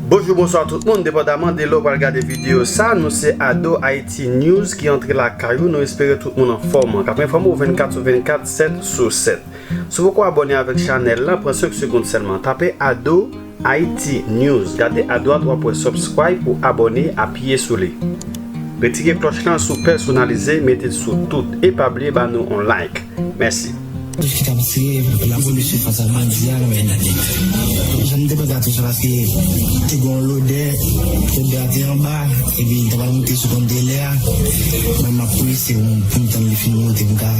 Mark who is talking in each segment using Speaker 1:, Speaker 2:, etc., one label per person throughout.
Speaker 1: Bonjou bonswa tout moun, depandaman de lè w pral gade videyo sa, nou se Ado Haïti News ki antre lakay ou, nou espere tout moun anfòm, k ap enfòme w 24 sou 24, 7 sou 7. Si w poko abòne avèk chanèl lan, pran 5 segond sèlman, tape Ado. Haïti news gade adwat wap wè subscribe ou abonné apiye sou li retire klòch lan sou pèsonalize mete l sou tout e pa bliye ba nou on like mèsi. Tout ki tap
Speaker 2: tiye lapolis fas a bandi a lwen nan nèt janm te panse a tout sa paske te gon lodè odè a te anba epi ta pral moute sou kontenè a mwen map prese poum tann li fin moute poum ka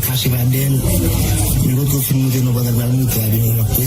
Speaker 2: kache pa dèyèl men kote ou fin moute nou pandan l pral moute a epi mwen map prese.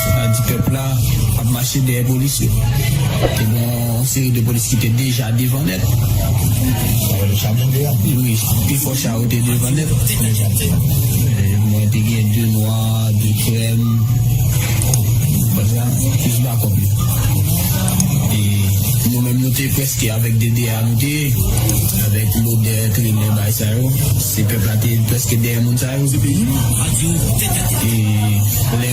Speaker 2: Sa di pèp la ap mache dèyè polis yo. Te gen yon seri de polis ki te deja devan nèt. Cha
Speaker 3: blende a? Wi, pi fò
Speaker 2: cha yo te devan nèt. Konbyen cha te gen? Mwen te gen 2 nwa, 2 krèm. Konn sa? Plis bakòp yo. E nou menm nou te prèske avèk DDA nou te ye. Avèk lodè kriminèl bay sa yo. Se pèp la te prèske dèyè moun sa yo. Se peyi nou? Map di ou tèt a tè. E lè.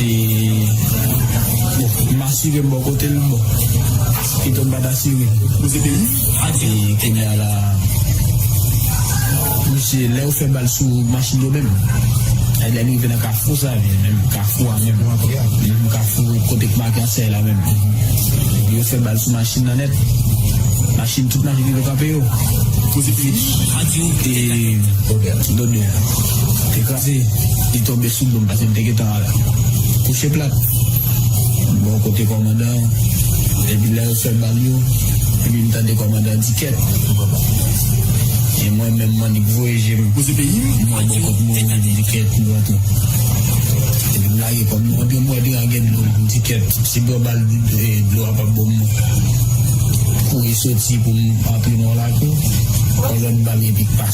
Speaker 2: E bon, m asire m bò kote l bon, pito m pa t asire m. Ou se peyi a di. E kounye a la a, mesye, lè yo fè bal sou machin yo menm, e lè n rive nan kafou sa a, menm kafou a menm, menm kafou kote k make ansèy la menm, epi yo fè bal sou machin nan nèt, machin, tout machin rive kanpe yo. Ou se peyi a di. E Dodè te kraze, li tonbe. Sou do m pase m te gentan al kouche plat bò kote kòmandan an epi lè yo fè bal yo epi m tande kòmandan di kèt papa e mwen menm m annik voye je m Koze peyi m m wè bò kot mwen epi m di kèt m rantre epi m lage kò m nan epi m wè deyo a gen dlo m di kèt si bwè bal dlo a pap bon m kouri soti pou m antre nan yon lakou yon lòt bal epi k pase.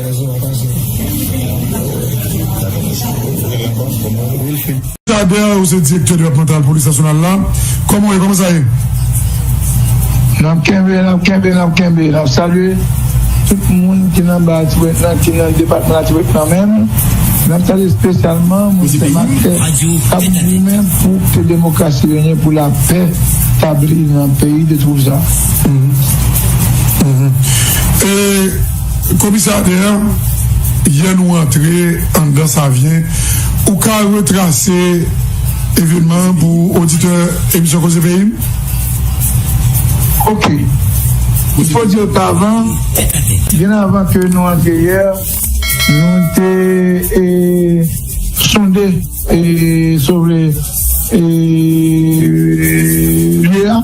Speaker 4: Tadeo ou se direktè depatmantal polis nasyonal la kòman ou ye kòman sa ye? Nap kenbe nap
Speaker 5: kenbe nap kenbe nap salye tout moun ki nan ba atibonit lan ki nan depatman latibonit lan menm nap salye spesyalman moun senmakè kap goumen pou ke demokrasi renyen pou lapè tabli nan peyi de twouza.
Speaker 4: Komisè Ader, yè nou antre anndan Savyen, ou ka retrase evènman an pou oditè emisyon Koze Peyi m?
Speaker 5: Ok. M fò di yo tavan, byen avan ke nou antre yè, nou te sonde, si w vle, lye a.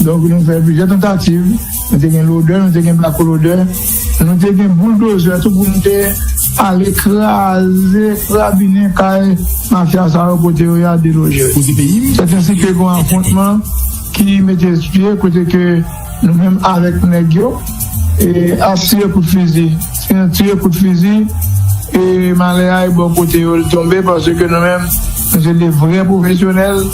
Speaker 2: Donk nou fè plizyè tantativ, nou te gen lodè, nou te gen blakolodè, nou te gen bouldozè tou pou nou te ale kraze, krabinen kay mafya sa yo kote yo ya deloje. Sèt ansi ke gon afwontman ki mete pye kote ke nou menm avèk nèg yo ap tire kout fizi. Si nou tire kout fizi, malè a e bò kote yo li tonbe paske nou menm nou se de vrè pwofesyonèl.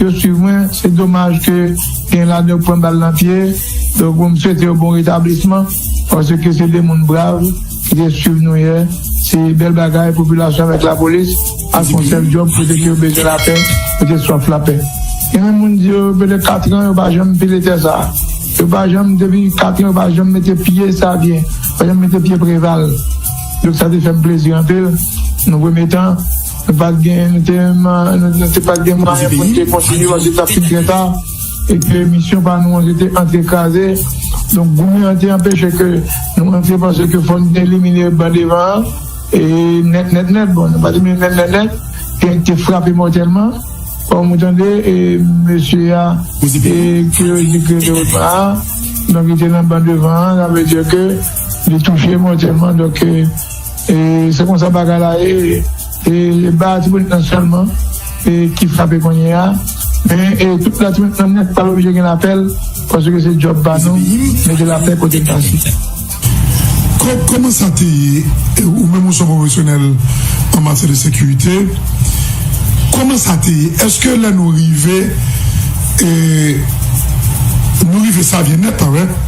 Speaker 2: Yo swiv mwen, se domaj ke gen ladan yo k pran bal nan pye, donk pou m swete yo bon retablisman, paske se 2 moun brav ki te swiv nou yè, se bèl bagay popilasyon avèk lapolis ap fè yon sèl djòb kote ke yo bezwen lapè, yo te swaf lapè. Gen menm moun di yo pèdè 4 tran yo pa janm pile tè sa, yo pa janm depi 4 tran yo pa janm mete pye Savyen, pa janm mete pye Preval, donk sa te fè m plezi anpil nan premye tan. Nou pat gen, nou te nou te pat gen mwayen pou nou te kontinye paske tap fin trè ta e ke misyon pa nou an se te antre kraze donk goumen an te anpeche ke nou antre pase ke fò nou te elimine ban devan an e nèt nèt nèt bon nou pa di men nèt nèt nèt gen ki te frape mòtèlman kòm ou tande e mesye a e ke yo di ke te otman a donk li te nan ban devan an sa vle di ke li touche mòtèlman donk. E se konsa bagay la ye. E ba Latibonit lan sèlman ki frape kounye a. Men tout Latibonit lan nèt pa oblije gen lapèl paske se djòb pa nou mete lapè kote l pase. Kòb, kòman
Speaker 4: sa te ye? Ou menm ou son pwofesyonèl an matyè de sekirite. Kòman sa te ye? Eske lè nou rive, nou rive sa vye nèt?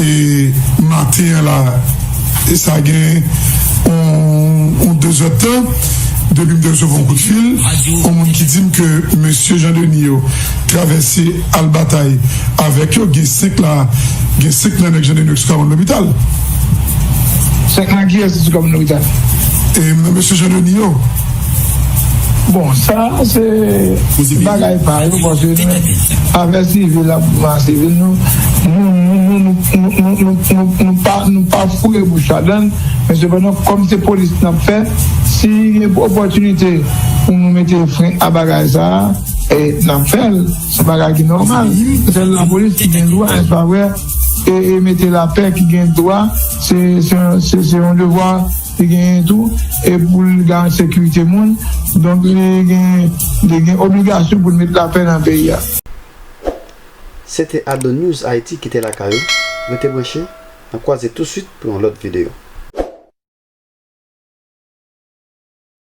Speaker 4: E maten an la e sa gen yon dezèdtan depi m te resevwa yon kout fil yon moun ki di m ke mesye Jan Deni yo travèse al batay avèk yo gen 5 la gen 5 nan nèg Jan Deni yo ki sou kabann lopital.
Speaker 2: 5 nan kiyès ki sou kabann lopital? E nan
Speaker 4: mesye Jan Deni yo.
Speaker 2: Bon sa se bagay pa yo paske nou menm afè sivil la pou nou sivil nou nou pa foure bouch ladan l men sepandan kòm se polis n ap fè si gen opòtinite pou nou mete fren a bagay sa n ap fè l se bagay ki nòmal se lapolis ki gen dwa nèsè pa vre e mete lapè ki gen dwa se yon devwa Li genyen tou e pou l garan sekirite moun, donk li gen obligasyon pou l met lapè nan peyi a.
Speaker 1: Se te Ado News Haïti kite lakay ou, rete branche, nan kwaze tou swit pou yon lòt video.